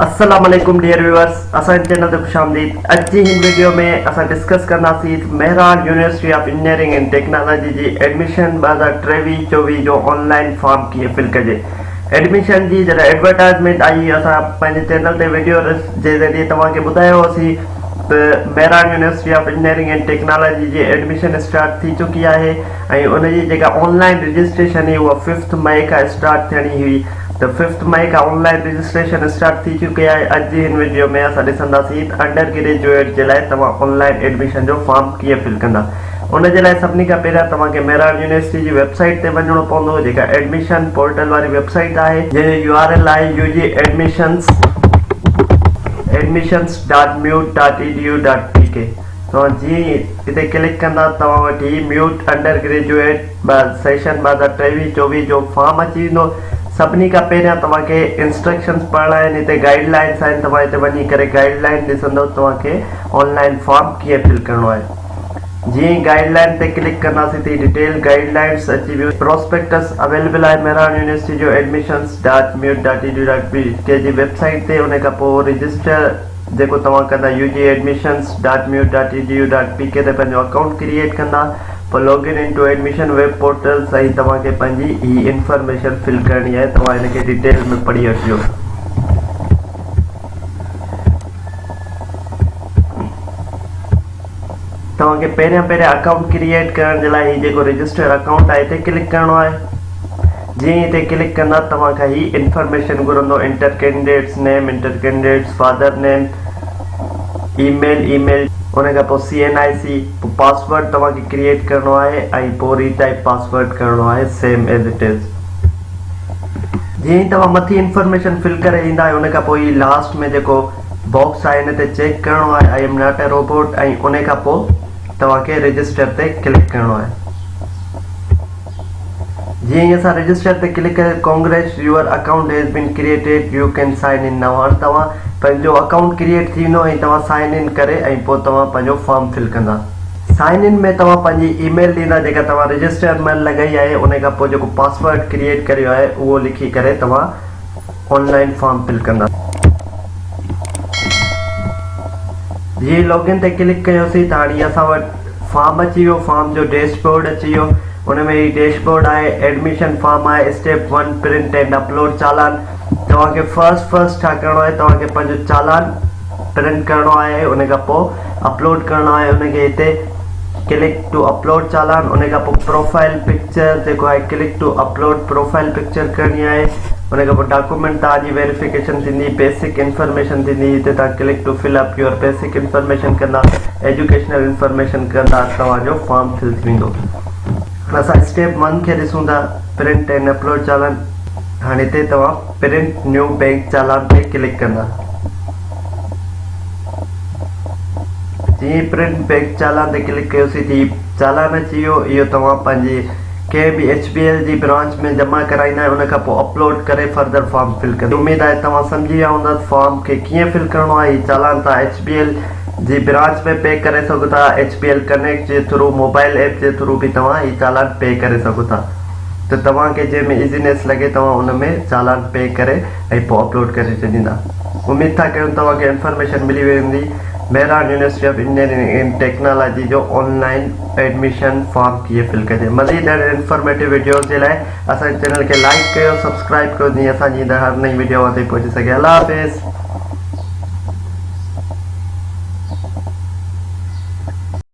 السلام عليڪم dear viewers اسان جي چينل تي خوش آمديد اڄ جي هن ويڊيو ۾ اسان ڊسڪس ڪنداسين ته Mehran university of engineering and technology جي ايڊميشن ٻه هزار ٽيويهه چوويهه جو آن لائين فارم ڪيئن فل ڪجي ايڊميشن جي جڏهن ايڊورٽائزمينٽ آئي اسان پنهنجي چينل تي ويڊيو جي ذريعي توهان کي ٻڌايو هوسي ته Mehran university of engineering and technology جي ايڊميشن اسٽارٽ ٿي چڪي آهي ۽ ان جي جيڪا آن لائين رجسٽريشن هئي اها ففٿ مئي کان اسٽارٽ ٿيڻي هئي ته ففٿ مئي کان آن لائن رجسٽريشن اسٽارٽ ٿي چڪي آهي اڄ جي هن وڊيو ۾ اسان ڏسنداسين ته انڊر گريجوئيٽ جي لاء توهان آن لائن ايڊميشن جو فارم ڪيئن فل ڪندا ان جي لاء سڀني کان پهريان توهان کي مهراڻ يونيورسٽي جي ويب سائيٽ تي وڃڻو پوندو جيڪا ايڊميشن پورٽل واري ويب سائيٽ آهي جنهن جو يو آر ايل آهي U G admissions Admissions dot MUET dot E D U dot P K توهان جيئن ئي اتي ڪلڪ ڪندا توهان وٽ هي ميوٽ انڊر گريجوئيٽ ٻه سيشن بعد ٽيويهين چوويهين جو فارم اچي ويندو سڀني کان پهريان توهان کي انسٽرڪشنس پڙهڻا آهن هتي گائيڊ لائنس آهن توهان هتي وڃي ڪري گائيڊ لائن ڏسندو توهان کي آن لائن فارم ڪيئن فل ڪرڻو آهي جيئن ئي گائيڊ لائن تي ڪلڪ ڪنداسين تي ڊيٽيل گائيڊ لائنس اچي ويو پروسپيڪٽس اويليبل آهي مهراڻ يونيورسٽي جو admissions dot MUET dot E D U dot P K جي ويب سائيٽ تي ان کان پوء رجسٽر جيڪو توهان ڪندا U G admissions dot MUET dot E D U dot P K تي پنهنجو اڪائونٽ ڪريئيٽ ڪندا پر log in into admission web portal سائين توهان کي پنهنجي هي انفارميشن فل ڪرڻي آهي توهان هن کي ڊيٽيل ۾ پڙهي وٺجو. توهان کي پهريان پهريان اڪائونٽ ڪريئيٽ ڪرڻ جي لاء هي جيڪو رجسٽر اڪائونٽ آهي هتي ڪلڪ ڪرڻو آهي جيئن ئي هتي ڪلڪ ڪندا توهان کان هي انفارميشن گهرندو enter candidate's name enter candidate's father name email email ان کان پوء سي اين آء سي پوء پاسورڊ توهان کي ڪريئيٽ ڪرڻو آهي ۽ پوء ري ٽائيپ پاسورڊ ڪرڻو آهي سيم ايز اٽ از جيئن ئي توهان مٿي انفارميشن فل ڪري ايندا آهيو ان کان پوء هي لاسٽ ۾ جيڪو باڪس آهي ان تي چيڪ ڪرڻو آهي I am not a robot ۽ ان کان پوء توهان کي رجسٽر تي ڪلڪ ڪرڻو آهي. جيئن ئي اسان رجسٽر تي ڪلڪ ڪري congrats your account has been created you can sign in now هاڻي توهان پنهنجو اڪائونٽ ڪريئيٽ ٿي ويندو ۽ توهان سائن ان ڪري ۽ پوء توهان پنهنجو فارم فل ڪندا سائن ان ۾ توهان پنهنجي اي ميل ڏيندا جيڪا توهان رجسٽر مهل لڳائي آهي انهي کان پوء جيڪو پاسورڊ ڪريئيٽ ڪريو آهي اهو لکي ڪري توهان آن لائن فارم فل ڪنداسين جي لاگ ان تي ڪلڪ ڪيوسين ته هاڻي اسان وٽ فارم اچي ويو فارم جو ڊيش بورڊ اچي ويو ان ۾ هي ڊيش بورڊ آهي ايڊميشن فارم آهي step one print and upload challan توهان کي فرسٽ فرسٽ ڇا ڪرڻو آهي توهان کي پنهنجو چالان پرنٽ ڪرڻو آهي ان کان پوء اپلوڊ ڪرڻو آهي ان کي هتي ڪلڪ ٽو اپلوڊ چالان ان کان پوء پروفائيل پڪچر جيڪو آهي click to upload profile picture ڪرڻي آهي ان کان پوء ڊاڪومينٽ توهان جي ويريفڪيشن ٿيندي بيسڪ انفارميشن ٿيندي هتي توهان click to fill up your basic information ڪندا ايجوڪيشنل انفارميشن ڪندا توهان جو فارم فل ٿي ويندو هاڻي اسان اسٽيپ ون کي ڏسون ٿا پرنٽ اينڊ اپلوڊ چالان هاڻي هتي توهان پرنٽ نيو بئنڪ چالان تي ڪلڪ ڪندا جيئن ئي پرنٽ بئنڪ چالان تي ڪلڪ ڪيوسين تي چالان اچي ويو اهو توهان پنهنجي ڪنهن به ايڇ بي ايل جي برانچ ۾ جمع ڪرائيندا ۽ ان کان پوء اپلوڊ ڪري فردر فارم فل ڪندا اميد آهي توهان سمجهي ويا هوندا ته فارم کي ڪيئن فل ڪرڻو آهي هي چالان توهان ايڇ بي ايل جي برانچ ۾ پي ڪري سگهو ٿا ايڇ بي ايل ڪنيڪٽ جي ٿرو موبائل ايپ جي ٿرو به توهان هي چالان پي ڪري سگهو ٿا ته توهان کي جنهن ۾ ايزينيس لڳي توهان ان ۾ چالان پي ڪري ۽ پوء اپلوڊ ڪري ڇڏيندا. اميد ٿا ڪيون توهان کي انفارميشن ملي وئي هوندي. Mehran university of engineering and technology جو آن لائين ايڊميشن فارم ڪيئن فل ڪجي. مزيد اهڙين انفارميٽو وڊيوز جي لاء اسان جي چينل کي لائيڪ ڪيو سبسڪرائيب ڪيو جيئن اسان جي ايندڙ هر نئين وڊيو اوهان تائين پهچي سگهي الله حافظ.